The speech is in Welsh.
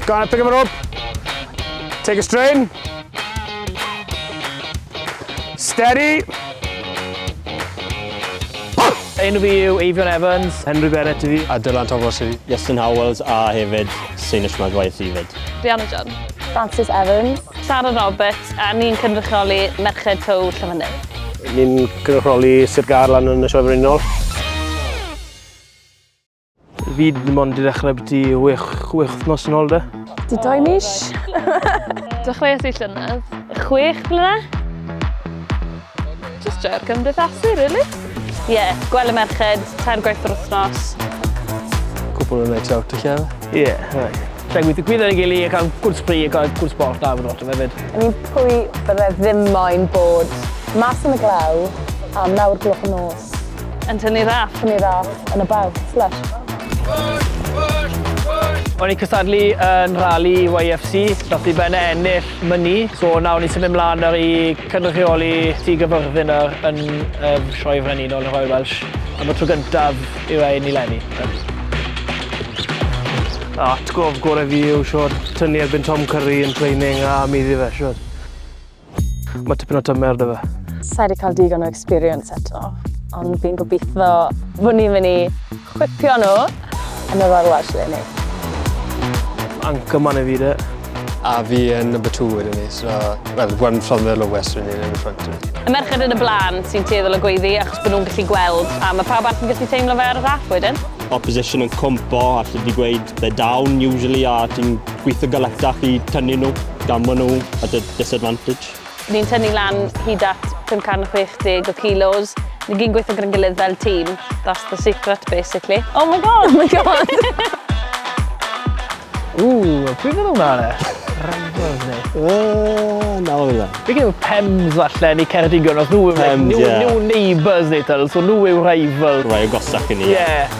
Go on, pick him up. Take a strain. Steady. Enw fi yw Eifion Evans. Henry Bennett i fi. A Dylan Thomas i fi. Justin Howells a hefyd Sinish Madwaith i fyd. Rihanna John. Francis Evans. Sarah Roberts a ni'n cynrychioli Merched Tow Llyfynydd. Ni'n cynrychioli Sir Garlan yn y Sioe Frenhinol. Fi ddim ond i ddechrau byti 6 wythnos yn ôl da. Di doi mis. Dechreuais i llynedd. 6 blynedd. Just joio'r cymdeithasu, really. Ie, yeah, gweld y merched, tair gwaith yr wythnos. Cwpl yn night out, lle? Ie, yeah, right. Da gweithio gwyd ar ei gili, cael gwrdd spri, cael gwrdd sport da fod o'r hefyd. Yn un pwy bydde ddim moyn bod mas yn y glaw am nawr gloch y nos. Yn tynnu raff. Tynnu raff yn y baw. Lysh. O'n i'n cystadlu yn rali YFC, nath i ben ennill myni, so nawr ni'n symud mlaen nawr i cynrychioli Tŷ Gyfyrddin nawr yn y Sioe Frenhinol yn Royal Welsh am y tro gyntaf i rhain i lenni. Atgof gorau fi yw siwr tynnu erbyn Tom Curry yn training a muddi fe siwr. Mae tipyn o tymer da fe. Sa'i wedi cael digon o experience eto, ond fi'n gobeithio fod ni'n mynd i chwipio nhw yn y Royal Welsh Leni. Anchorman i fi de. A fi yn number two wedyn ni, so, well, one from the lowest wedyn ni, yn y front. Y merched yn y blaen sy'n tueddol o gweiddi achos bod nhw'n gallu gweld, a mae pawb arall yn gallu teimlo fe ar y rhaff wedyn. Opposition yn cwmpo a allu di gweud they're down usually a ti'n Gweithio galetach i tynnu nhw gan maen nhw at a disadvantage. Ni'n tynnu lan hyd at 560 o kilos. Ni gyn gweithio gyda'n gilydd fel tîm. That's the secret basically. Oh my god! Oh my god! Ooh, pwy fydd hwnna yna? Rhagfawr ni. Ooh, na oedd e. Fi gyda'r Pems falle, ni Ceredigion, os nhw yw'r new, new neighbours ni, so nhw yw'r rival. Rhai o gosach i ni. Yeah.